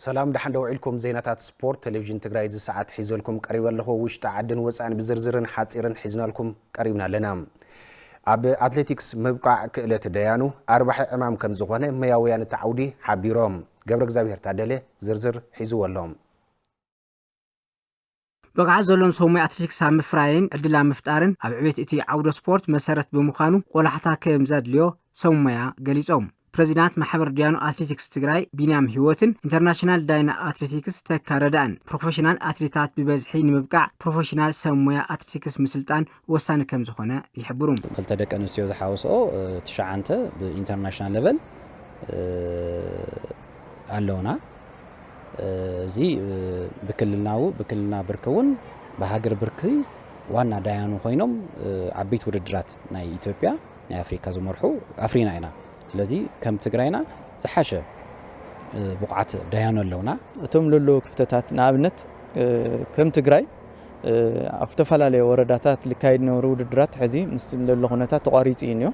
ሰላም ደሓን ዶ ውዒልኩም ዜናታት ስፖርት ቴሌቭዥን ትግራይ እዚ ሰዓት ሒዘልኩም ቀሪበ ኣለኹ ውሽጢ ዓድን ወፃእን ብዝርዝርን ሓፂርን ሒዝናልኩም ቀሪብና ኣለና ኣብ ኣትሌቲክስ ምብቃዕ ክእለት ደያኑ ኣርባሒ ዕማም ከም ዝኾነ መያውያን እቲ ዓውዲ ሓቢሮም ገብረ እግዚኣብሄር ታደለ ዝርዝር ሒዝዎ ኣሎ ብቕዓት ዘሎን ሰው ሞያ ኣትሌቲክስ ኣብ ምፍራይን ዕድል ኣብ ምፍጣርን ኣብ ዕቤት እቲ ዓውደ ስፖርት መሰረት ብምዃኑ ቆላሕታ ከም ዘድልዮ ሰው ሞያ ገሊፆም። ፕሬዚዳንት ማሕበር ዲያኑ ኣትሌቲክስ ትግራይ ቢንያም ሂወትን ኢንተርናሽናል ዳይና ኣትሌቲክስ ተካ ረዳእን ፕሮፌሽናል ኣትሌታት ብበዝሒ ንምብቃዕ ፕሮፌሽናል ሰብ ሞያ ኣትሌቲክስ ምስልጣን ወሳኒ ከም ዝኾነ ይሕብሩ። ክልተ ደቂ ኣንስትዮ ዝሓወሰኦ ትሽዓንተ ብኢንተርናሽናል ለቨል ኣለውና። እዚ ብክልልናዊ ብክልልና ብርኪ እውን ብሃገር ብርኪ ዋና ዳያኑ ኮይኖም ዓበይቲ ውድድራት ናይ ኢትዮጵያ ናይ ኣፍሪካ ዝመርሑ ኣፍሪና ኢና። ስለዚ ከም ትግራይና ዝሓሸ ብቑዓት ዳያኑ ኣለውና። እቶም ለለዉ ክፍተታት ንኣብነት ከም ትግራይ ኣብ ተፈላለየ ወረዳታት ልካይድ ነበሩ ውድድራት ሕዚ ምስ ለሎ ኩነታት ተቋሪፁ እዩ እኒኦ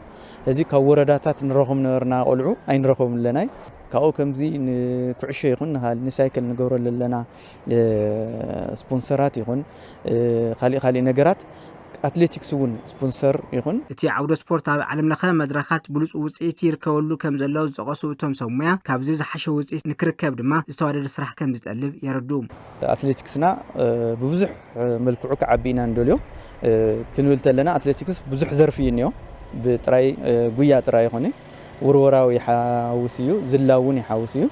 እዚ ካብ ወረዳታት ንረኹም ነበርና ቆልዑ ኣይንረኹም ኣለናይ ካብኡ ከምዚ ንኩዕሾ ይኹን ንካል ንሳይክል ንገብሮ ለለና ስፖንሰራት ይኹን ካሊእ ካሊእ ነገራት ኣትሌቲክስ እውን ስፖንሰር ይኹን እቲ ዓውደ ስፖርት ኣብ ዓለም ለኸ መድረኻት ብሉፅ ውፅኢት ይርከበሉ ከም ዘሎ ዝጠቐሱ እቶም ሰብ ሙያ ካብዚ ዝሓሸ ውፅኢት ንክርከብ ድማ ዝተዋደደ ስራሕ ከም ዝጠልብ የረድኡ። ኣትሌቲክስና ብብዙሕ መልክዑ ክዓቢ ኢና ንደልዮ ክንብል ተለና ኣትሌቲክስ ብዙሕ ዘርፊ እዩ እኒኦ ብጥራይ ጉያ ጥራይ ይኾነ ውርወራው ይሓውስ እዩ ዝላ እውን ይሓውስ እዩ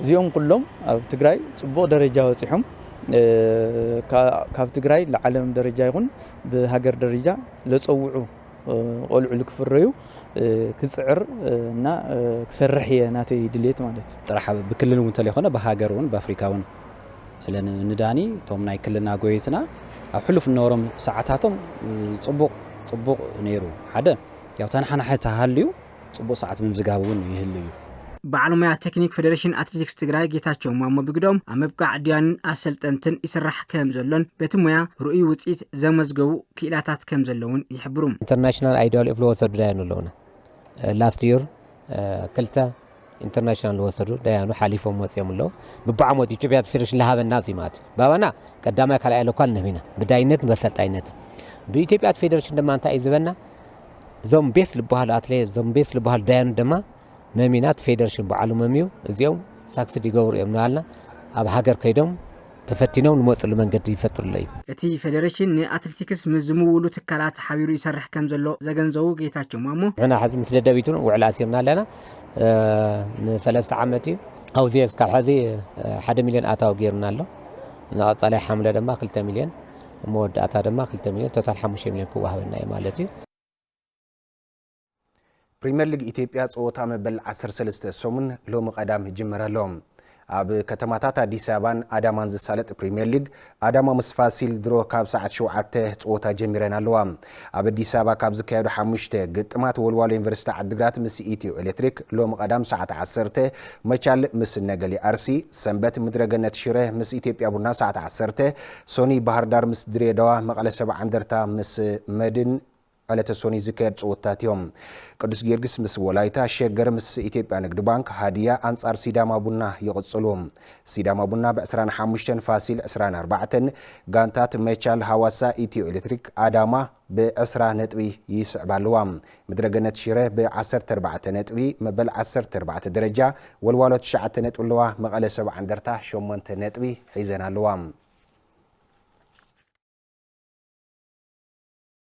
እዚኦም ኩሎም ኣብ ትግራይ ፅቡቕ ደረጃ በፂሖም ካብ ትግራይ ንዓለም ደረጃ ይኹን ብሃገር ደረጃ ለፀውዑ ቆልዑ ልክፍረዩ ክፅዕር እና ክሰርሕ እየ ናተይ ድሌት ማለት እዩ ጥራሕ ብክልል እውን ተለይኮነ ብሃገር እውን ብኣፍሪካ እውን ስለ ንዳኒ እቶም ናይ ክልልና ጎየትና ኣብ ሕሉፍ እነበሮም ሰዓታቶም ፅቡቕ ፅቡቕ ነይሩ ሓደ ያው ተናሓናሒ ተሃልዩ ፅቡቕ ሰዓት ምምዝጋብ እውን ይህሉ እዩ። በዓል ሞያ ቴክኒክ ፌዴሬሽን ኣትሌቲክስ ትግራይ ጌታቸው ማሞ ብግደኦም፣ ኣብ ምብቃዕ ዲያንን ኣሰልጠንትን ይስራሕ ከምዘሎን በቲ ሞያ ርኡይ ውፅኢት ዘመዝገቡ ክኢላታት ከምዘለዉን ይሕብሩ። ኢንተርናሽናል ኣይዶል ኢፍ ልወሰዱ ዳያኑ ኣለዉና ላስት ዩር ክልተ ኢንተርናሽናል ዝወሰዱ ደያኑ ሓሊፎም ወፂኦም ኣለዉ። ብብዓሞት ኢትዮጵያ ፌደሬሽን ልሃበና ዚማት ባባና ቀዳማይ ካልኣይ ለኳል ንህቢና ብዳይነት በሰልጣይነት ብኢትዮጵያ ፌደሬሽን ድማ እንታይ እዩ ዝበና እዞም ቤስ ልበሃሉ ኣትለ እዞም ቤስ ልበሃሉ ዳያኑ ድማ መሚናት ፌደሬሽን በዓሉ መምዩ እዚኦም ሳክስድ ይገብሩ እዮም ንባልና ኣብ ሃገር ከይዶም ተፈቲኖም ልመፅሉ መንገዲ ይፈጥርሎ እዩ። እቲ ፌዴሬሽን ንኣትሌቲክስ ምስ ዝምውሉ ትካላት ሓቢሩ ይሰርሕ ከምዘሎ ዘገንዘቡ ጌታቸው ማሞ፣ ንሕና ሐዚ ምስ ደደቢት እውን ውዕል ኣሲርና ኣለና ንሰለስተ ዓመት እዩ ኣውዚኤ እስካብ ሐዚ ሓደ ሚሊዮን ኣታዊ ገይሩና ኣሎ ንቐፃላይ ሓምለ ድማ ክልተ ሚሊዮን መወዳእታ ድማ ክልተ ሚሊዮን ቶታል ሓሙሽተ ሚሊዮን ክወሃበና እዩ ማለት እዩ። ፕሪምየር ሊግ ኢትዮጵያ ፀወታ መበል ዓሰርተ ሰለስተ ሰሙን ሎሚ ቀዳም ይጅመር ኣሎ። ኣብ ከተማታት ኣዲስ ኣበባን ኣዳማን ዝሳለጥ ፕሪምየር ሊግ ኣዳማ ምስ ፋሲል ድሮ ካብ ሰዓት ሸውዓተ ፀወታ ጀሚረን ኣለዋ። ኣብ ኣዲስ ኣበባ ካብ ዝካየዱ ሓሙሽተ ግጥማት ወልዋሎ ዩኒቨርሲቲ ዓዲግራት ምስ ኢትዮ ኤሌክትሪክ፣ ሎሚ ቀዳም ሰዓት ዓሰርተ መቻል ምስ ነገሌ ኣርሲ፣ ሰንበት ምድረገነት ሽረ ምስ ኢትዮጵያ ቡና ሰዓት ዓሰርተ፣ ሶኒ ባህርዳር ምስ ድሬዳዋ፣ መቐለ ሰብዓ እንደርታ ምስ መድን ዕለተ ሶኑይ ዝካየድ ፀወታታት እዮም። ቅዱስ ጊዮርጊስ ምስ ወላይታ፣ ሸገር ምስ ኢትዮጵያ ንግድ ባንክ፣ ሃዲያ ኣንፃር ሲዳማ ቡና ይቕፅሉ። ሲዳማ ቡና ብ ዕስራን ሓሙሽተን፣ ፋሲል ዕስራን ኣርባዕተን፣ ጋንታት መቻል፣ ሃዋሳ፣ ኢትዮ ኤሌክትሪክ፣ ኣዳማ ብ ዕስራ ነጥቢ ይስዕባ ኣለዋ። ምድረ ገነት ሽረ ብ ዓሰርተ ኣርባዕተ ነጥቢ መበል ዓሰርተ ኣርባዕተ ደረጃ፣ ወልዋሎ ትሽዓተ ነጥቢ ኣለዋ። መቐለ ሰብዓ እንደርታ ሸሞንተ ነጥቢ ሒዘን ኣለዋ።